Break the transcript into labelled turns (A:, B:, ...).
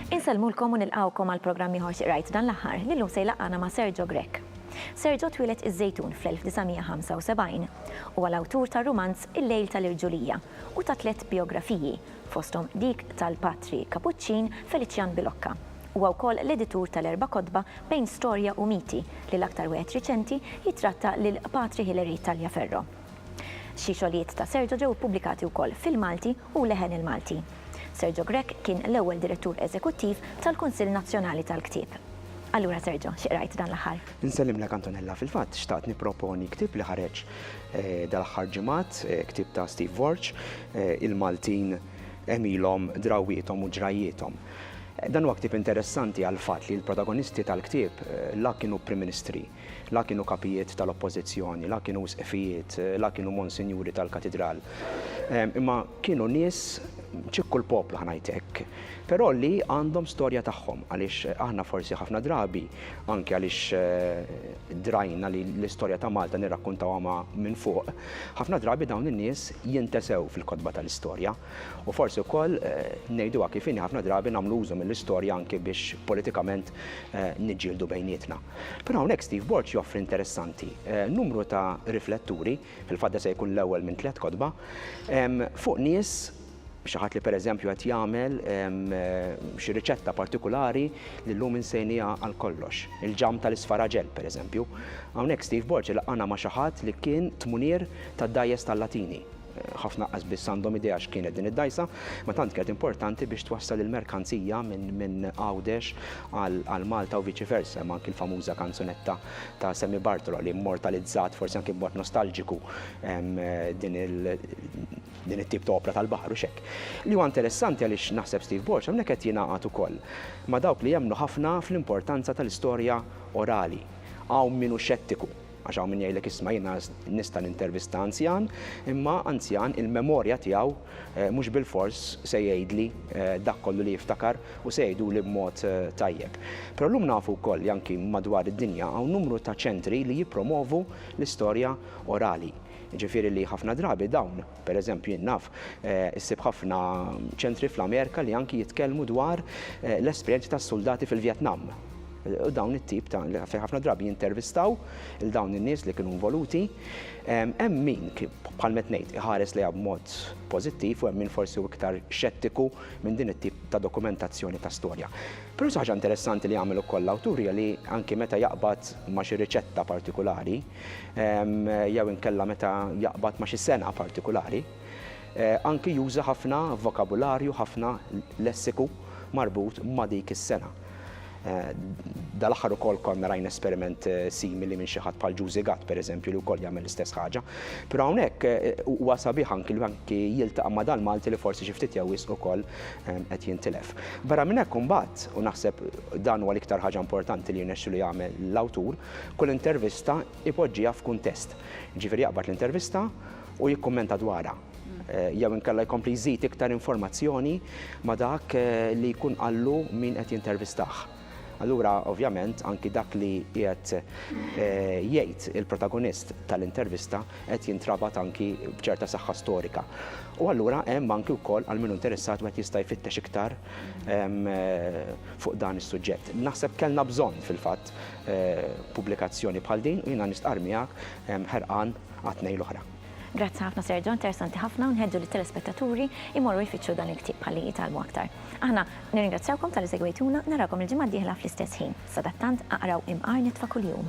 A: Insellmulkom u nilqgħukom għal programm ieħor x'qrajt dan l-aħħar li llum se jlaqqagħna ma' Sergio Grech. Sergio twieled iż-Żejtun fl-1975. Huwa l-awtur tar-rumanz Il-Lejl tal-Irġulija u ta' tliet bijografiji, fosthom dik tal-Patri Kapuċċin Felician Bilocca, Huwa wkoll l-editur tal-erba' kotba Bejn Storja u Miti, li l-aktar wieħed riċenti jittratta lil Patri Hilary Tagliaferro. Xi xogħlijiet ta' Sergio ġew ippubblikati wkoll fil-Malti u Leħen il-Malti. Sergio Grech kien l-ewwel Direttur Eżekuttiv tal-Kunsill Nazzjonali tal-Ktieb. Allura Sergio, xi qrajt dan l-aħħar? Insellimlek Antonella,
B: fil-fatt xtaqt nipproponi ktieb li ħareġ dal-aħħar ġimgħat, ktieb ta' Steve Warch, Il-Maltin għemilhom, drawwiethom u ġrajjiethom. Dan huwa ktieb interessanti għall-fatt li l-protagonisti tal-ktieb la kienu Prim Ministri, la kienu kapijiet tal-Oppożizzjoni, la kienu Isqfijiet, la kienu Monsinjuri tal-Katidral. Imma kienu nies, ċikku l-poplu ħa ngħid hekk, però li għandhom storja tagħhom għaliex aħna forsi ħafna drabi, anki għaliex drajna li l-istorja ta' Malta nirrakkuntawha ma' minn fuq, ħafna drabi dawn in-nies jintesew fil-kotba tal-istorja. U forsi wkoll ngħiduha kif inhi ħafna drabi nagħmlu użu mill-istorja anki biex politikament niġġieldu bejnietna. Però hawnhekk Steve Borg joffri interessanti, numru ta' rifletturi, fil-fatt da se jkun l-ewwel minn tliet kotba, fuq nies, xi ħadd li pereżempju qed jagħmel xi riċetta partikulari li llum insejniha għal kollox, il-ġamm tal-isfaraġell pereżempju. Hawnhekk Steve Borg ilaqqagħna ma' xi ħadd li kien tmunier tad-dgħajjes tal-Latini. Ħafna qas biss għandhom idea x'kienet din id-dgħajsa, ma tant kienet importanti biex twassal il-merkanzija minn Għawdex għal Malta u viċi versa. Hemm anki l-famuża kanzunetta ta' Sammy Bartolo li mmortalizzat, forsi anki b'mod nostalġiku, din it-tip ta' opra tal-baħar u x'hekk. Li huwa interessanti għaliex naħseb Steve Borg hawnhekk qed jingħaqad ukoll ma' dawk li jemmnu ħafna fl-importanza tal-istorja orali. Hawn min hu xettiku. Għax hawn min jgħidlek isma' jiena nista' nintervista anzjan, imma anzjan il-memorja tiegħu mhux bilfors se jgħidli dak kollu li jiftakar u se jgħiduli b'mod tajjeb. Però llum nafu wkoll li anki madwar id-dinja hawn numru ta' ċentri li jippromovu l-istorja orali. Jiġifieri li ħafna drabi dawn Per eżempju, jien naf, issib ħafna ċentri fl-Amerika li anki jitkellmu dwar l-esperjenzi tas-suldati fil-Vjetnam. U dawn it-tip ta' fejn ħafna drabi jintervistaw il dawn in-nies li kienu involuti. Hemm min bħal met ngħid iħares lejha b'mod pożittiv u hemm min forsi hu iktar xettiku minn din it-tip ta' dokumentazzjoni ta' storja. Però xi ħaġa interessanti li jagħmel ukoll l-awtur hija li anki meta jaqbad ma' xi riċetta partikulari, jew inkella meta jaqbad ma' xi sengħa partikulari. Anki juża ħafna vokabularju, ħafna lessiku marbut ma' dik is-sengħa. Dal-aħħar ukoll konna rajna esperiment simili minn xi ħadd bħal Juzi Gatt, pereżempju, li wkoll jagħmel l-istess ħaġa. Però hawnhekk huwa sabiħ anki li anki jiltaqa' ma' dal-Malti li forsi xi ftit jew wisq ukoll qed jintilef. Barra minn hekk imbagħad, u naħseb dan huwa l-iktar ħaġa importanti li jirnexxilu jagħmel l-awtur, Kull intervista jpoġġiha f'kuntest. Jiġifieri jaqbad l-intervista u jikkummenta dwarha. Jew inkella jkompli jżid iktar informazzjoni ma' dak li jkun qallu min qed jintervistah. Allura, ovvjament, anki dak li qiegħed jgħid il-protagonist tal-intervista qed jintrabat anki b'ċerta saħħa storika. U allura hemm anki wkoll għal min hu interessat wieħed jista' jfittex iktar fuq dan is-suġġett. Naħseb kellna bżonn fil-fatt pubblikazzjoni bħal din u jiena nistqarr miegħek ħerqan għat-tnejn l-oħra. Grazzi ħafna Sergio,
A: interessanti ħafna u nħeġġu lit-telespettaturi jmorru jfittxu dan il-ktieb ħalli jitgħallmu aktar. Aħna nirringrazzjawkom talli segwejtuna, narawkom il-ġimgħa d-dieħla fl-istess ħin. Sadattant, aqraw Imqar Nitfa' Kuljum.